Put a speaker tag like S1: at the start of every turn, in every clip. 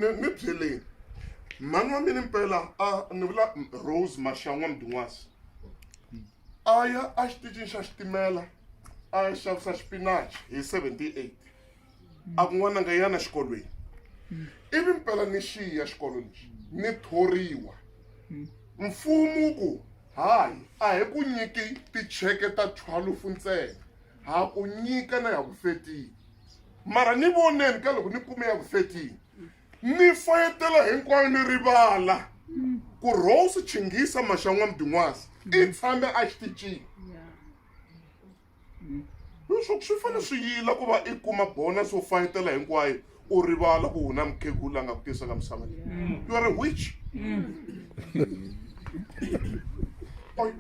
S1: mi mi byeleni mhani wa mina mpela a ni vula rose maxan'wa mdun'wasi a ya exitichini xa xitimela a ya xavisa xipinachi hi 78 a kun'wana nga yana xikolweni ivi mpela ni xiya xikolo lexi ni thoriwa mfumo ku hayi a hi ku nyiki ticheke ta 12 ntsena ha ku nyika na ya ku 13 mara ni voneni ka loko ni kume ya ku-13 ni fayetela hinkwayo ni rivala ku rose chingisa maxan'wa mudin'wasi i tshame exitichini leswo swi fane swi yila ku va i kuma bonus wo fayetela hinkwayo u rivala ku huna mukhegulu la nga ku tisaka misava leyi you are a witch Oy,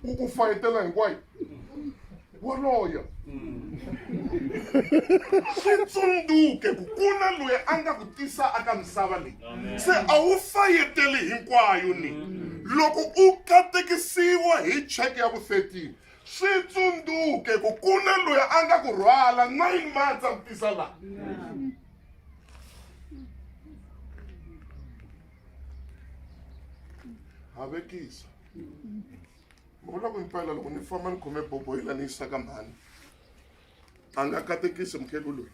S1: u u fayetela hinkwayo wa loya swi tsundzuke ku ku na loyi a nga ku tisa aka misava leyi se a wu fayeteli hinkwayo ni loko u katekisiwa hi cheke ya vu 13 swi tsundzuke ku ku na loyi a nga ku rhwala nine months a ku tisa laha avekisa mi vona ku mpela loko ni famba ni khome bobo yi la ni yisaka mhani a nga katekisi mukhelu loyi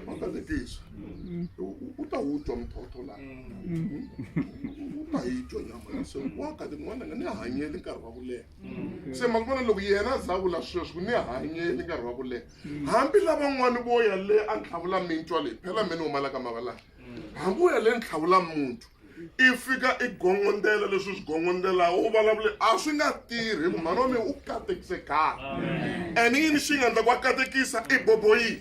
S1: a katekisa u ta wu twa muthotho laha u ta yi twa nyama se wa kati n'wana nga ni hanyeli nkarhi wa ku leha se ma ku vona loko yena za vula sweswi ku ni hanyeli nkarhi wa ku leha hambi lavan'wani vo yaleyo a ni tlhavula mintwa leyi phela mini wo malaka mavalana hambi wo yaleyo ni tlhavula muntu i fika i gongondzela leswi swi gongondzelaka u vulavule a swi nga tirhi mhani wa mina u katekise khale and yini xi nga endla ku a katekisa i boboyini